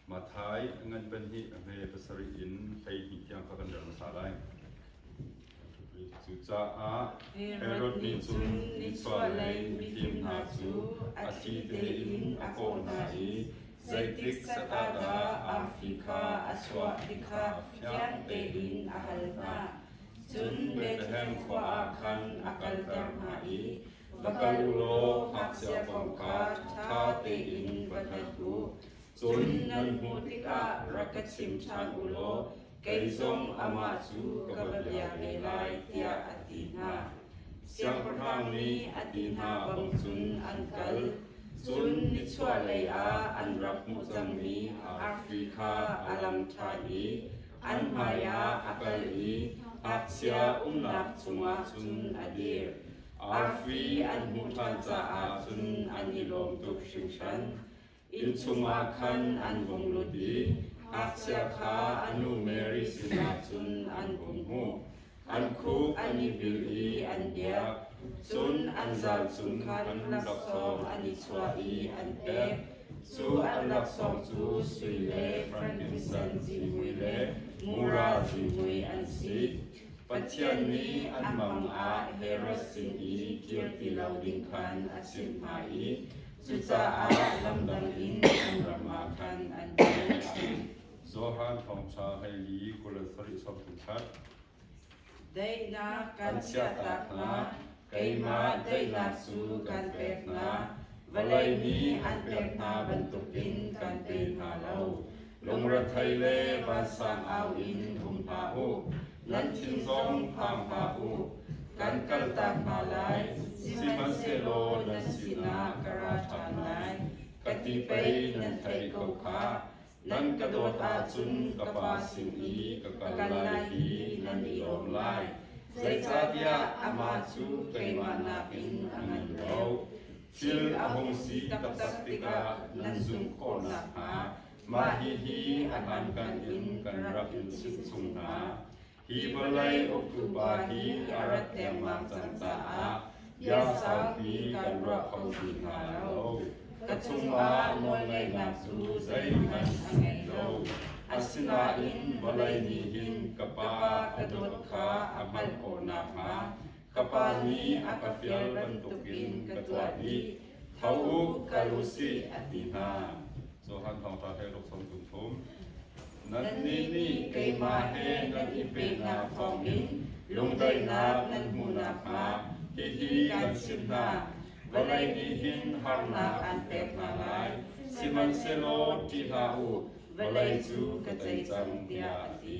Matthai ngan ban hi a hme pasarih in hleihnih tiang kha kan rel hmasa lai. Cucaah Herod nih cun mitsualei mifim hna cu a thli tein a kawh hna i zeitik sata dah arfi kha a chuah ti kha fiang tein a hal hna. Cun Bethlehem khua ah khan a kalter hna i va kal u law ngakchia kong kha ṭha tein va hngalh u. Cun nan hmuh tikah rak ka chim ṭhan u law kei zong amah cu ka va bia ve lai, tiah a ti hna. Siangpahrang nih a ti hna bang cun an kal, cun nichuahlei ah an rak hmuh cangmi arfi kha a lam ṭhan i an hmaiah a kal i ngakchia umnak chungah cun a dir. Arfi an hmuh ṭhan caah cun an i lawm tuk hringhran. Inn chungah khan an vung lut i ngakchia kha a nu Mary sinah cun an hung hmuh. An khuk an i bil i an biak, cun an zal cung khan laksawng an i chuah i an pek. Cu an laksawng cu sui le frankinsen zimui le mura zimui an si. Pathian nih an mang ah Herod sin i kir ti lo ding khan a chimh hna i cucaah lamdang in an ram ah khan an kir. Amen. Johan Thawngṭha hleili kul le sarih chapter khat. Deinak kan chiahtak hna, Keimah daihnak cu kan pek hna, vawlei nih an pek hna bantukin kan pe hna lo. Lungrethei le vansang au in hum hlah u, nan thin zong phang hlah u. Kan kaltak hna lai, sihmanhsehlaw na sinah ka ra ṭhan lai, ka ti pei nan theih ko khah. Nan ka dawt ahcun ka Pa sin i ka kal lai i nan i lawm lai, zeicahtiah amah cu keimah nakin a ngan lo. Thil a hung si taktak tikah nan zumh khawh nakhnga mah hihi a hlankan in kan rak in chimh chung hna. Hi vawlei uktupa hi a rat dengmang cang caah bia saupi kan ruah kho ti hna lo. Ka chungah nawlngaihnak cu zeihmanh a ngei lo. Asinain vawlei nih hin ka Pa a dawt kha a hngalh khawh nakhnga ka pa nih a ka fial bantukin ka tuah dih, tho u, kal u sih, an ti hna. Johan Thawngṭha he ruk sawm tum thum. Nannih nih keimah he nan i penak thawngin lungdaihnak nan hmuh nakhnga hihi kan chimh hna. Vawlei nih hin harnak an pek hna lai, sihmanhsehlaw ṭih hlah u, vawlei cu ka tei cang, tiah a ti.